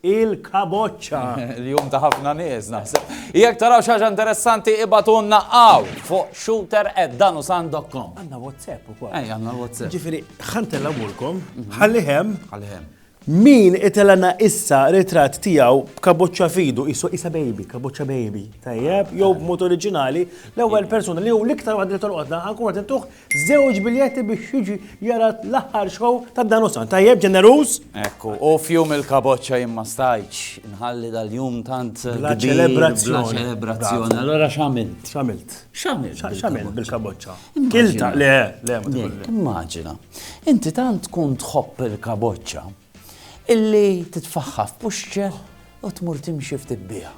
il-kaboċċa. Il-jum ta' ħafna nies naħseb. Jekk taraw xi ħaġa interessanti ibatunna hawn fuq shooter@danusan.com. Għandna WhatsApp ukoll. Ej, għandna WhatsApp. Ġifieri ħantella mulkom, mhm. ħalli hemm. Ħalli hemm. Min itelana issa ritratt tiegħu b'kaboċċa fidu, isu isa baby, kaboċċa baby, tajjeb, jew b'mod oriġinali, l-ewwel persuna li hu l-iktar waħda li tolqodna ħankun qed intuh Żewġ biljetti biex jiġi jara l-aħħar xow ta' Danusan. Tajjeb, ġeneruż? Ekku, u fjum il-kaboċċa jien ma stajtx inħalli dal-jum tant bla ċelebrazzjoni. Allora x'għamilt? X'għamilt? X'għamilt? X'għamilt bil-kaboċċa? Kilta, le, le, le. Immaġina, inti tant tkun tħobb il-kaboċċa illi titfaħħa f'puxċer u tmur timxi ftit biha.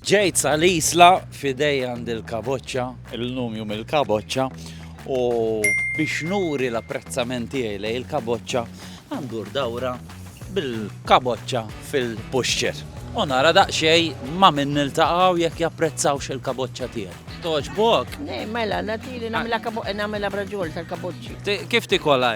Ġejt sa l-isla fidej għand il-kaboċċa, il-lum jum il-kaboċċa, u biex nuri l-apprezzament tiegħi lej il-kaboċċa għandur dawra bil-kaboċċa fil-puxċer. U nara daqxej ma minn niltaqaw jekk japprezzawx il-kaboċċa tiegħek. Toġbok? Ne, mela, natili namela kaboċċa, namela braġol tal-kaboċċi. Kif tikola?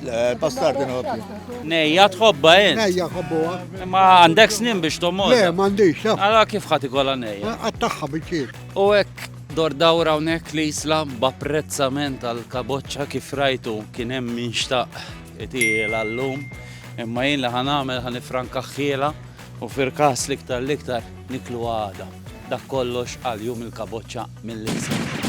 Le, bastardi nħobbi. Nejja tħobba jien. Nejja tħobbuha. Ma għandek snin biex tomod. Le, m'għandix. Għala kif ħati kolla nejja? Għattaħħa bieċir. U hekk dor dawra hawnhekk li jisla b'apprezzament għal kaboċċa kif rajtu kien hemm min xtaq itiela llum. Imma jien li ħanamel ħanifranka ħħiela u fil-każ liktar liktar niklu għada. Dak kollox għal jum il-kaboċċa mill-insa.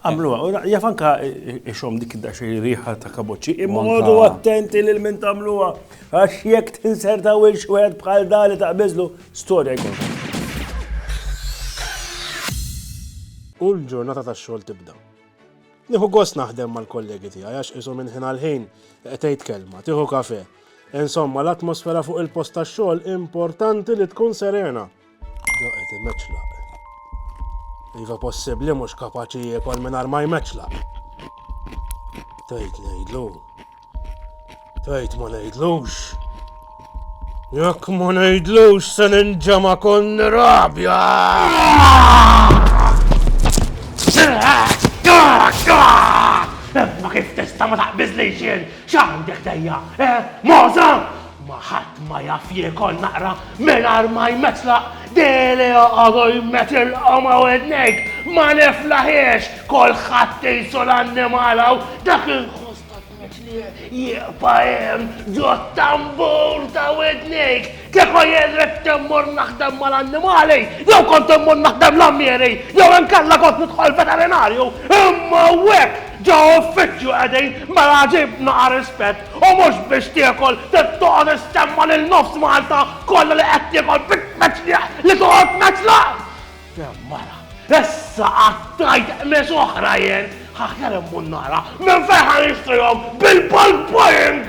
Għamluha, u jaf anka ixom dik id xej riħa ta' kaboċi, imma għodu attenti lil min tagħmluha. Għax jekk tinserta wil xwed bħal da li taqbiżlu, storja jkun. U l-ġurnata tax-xogħol tibda. Nieħu gost naħdem mal-kollegi tiegħi għax isu minn ħin għal ħin qed kelma, tieħu kafe. Insomma, l-atmosfera fuq il-post tax-xogħol importanti li tkun serena. Doqet imeċlaq. Iva possibbli mhux kapaċi jiekol mingħajr ma jmeċlaq. Tgħid ngħidlu. Tgħid ma ngħidlux. Jekk ma ngħidlux se ninġema kon rabja. Imma kif tista' ma taqbiżlix jien x'għandek dejja? Eh, Moża! Ma ħadd ma jaf jiekol naqra mingħajr ma jmetlaq, dehli joqogħdu jmetilqhom ma' widnejk, ma niflaħiex, kulħadd qisu l-annimal hawn, dak inħoss ta' tmetlieq jieqfa' hemm ġo t-tambur ta' widnejk. Kieku jien ridt immur naħdem mal-annimali, jew kont immur naħdem l-għammieri, jew inkella kont nidħol veterinarju, imma hawnhekk ġo uffiċċju qegħdin, mela ġib naqa' rispett. U mhux biex tiekol trid toqgħod issemma' lil nofs Malta kollha li qed tiekol bit-tmeċliħ li toqgħod tmeċlaħ! Kemm mara! Issa qatt tgħid qmis oħra jien! Aħjar immur nara minn fejn ħa nixtrihom bil-bulk buying!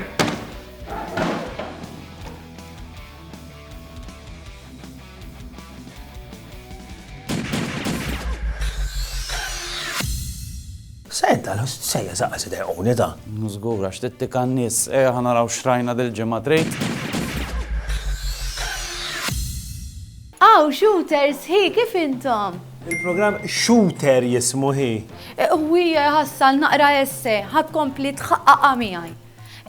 Senta, sejja zaqqa se dejquni da. Mhu żgur għax tittika n-nies. Ejja ħa naraw x'rajna dil-ġimgħa trid? Aw, shooters, hi, kif intom? Il-programm Shooter jismu hi. Ħwija jħassal naqra essay, ħa tkompli tħaqqaqha miegħi.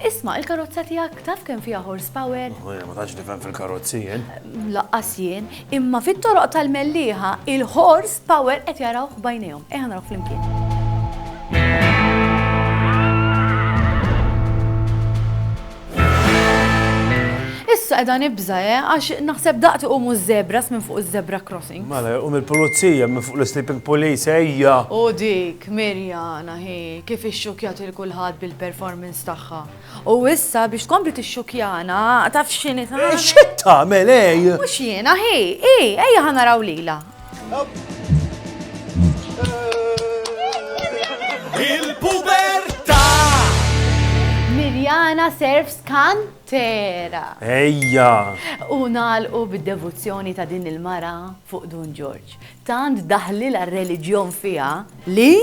Isma', il-karozza tiegħek taf kemm fiha horsepower? Oh, jiena ma tantx nifhem fil-karozzi jien. Laqqas jien, imma fit-toroq tal-Mellieħa il-horsepower qed jarawh b'għajnejhom. Ejja naraw flimkien. Issa edha nibza, eh, għax naħseb daqti u mu zebras minn fuq zebra crossing. Mela, u mill-pulizija minn fuq l-sleeping police, ejja. U dik, Mirjana, Hi kif ixxukkjat lil kulħadd bil-performance tagħha. U issa biex tkompli tixxukkjana, taf x'inhi tagħmel? X'qed tagħmel hi? Mhux jiena, hi, hi, ejja ħa naraw lilha. Il-pubertà! Mirjana Serfs Cantera. Ejja! U nagħlqu bid-devozzjoni ta' din il-mara fuq Dun Ġorġ. Tant daħħlilha r-reliġjon fiha li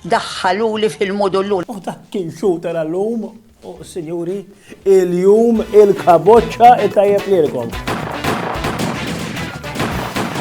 daħħaluli fil-mudullun. U dak kien shooter għal-lum, u sinjuri, il-jum il-kaboċċa it-tajjeb lilkom.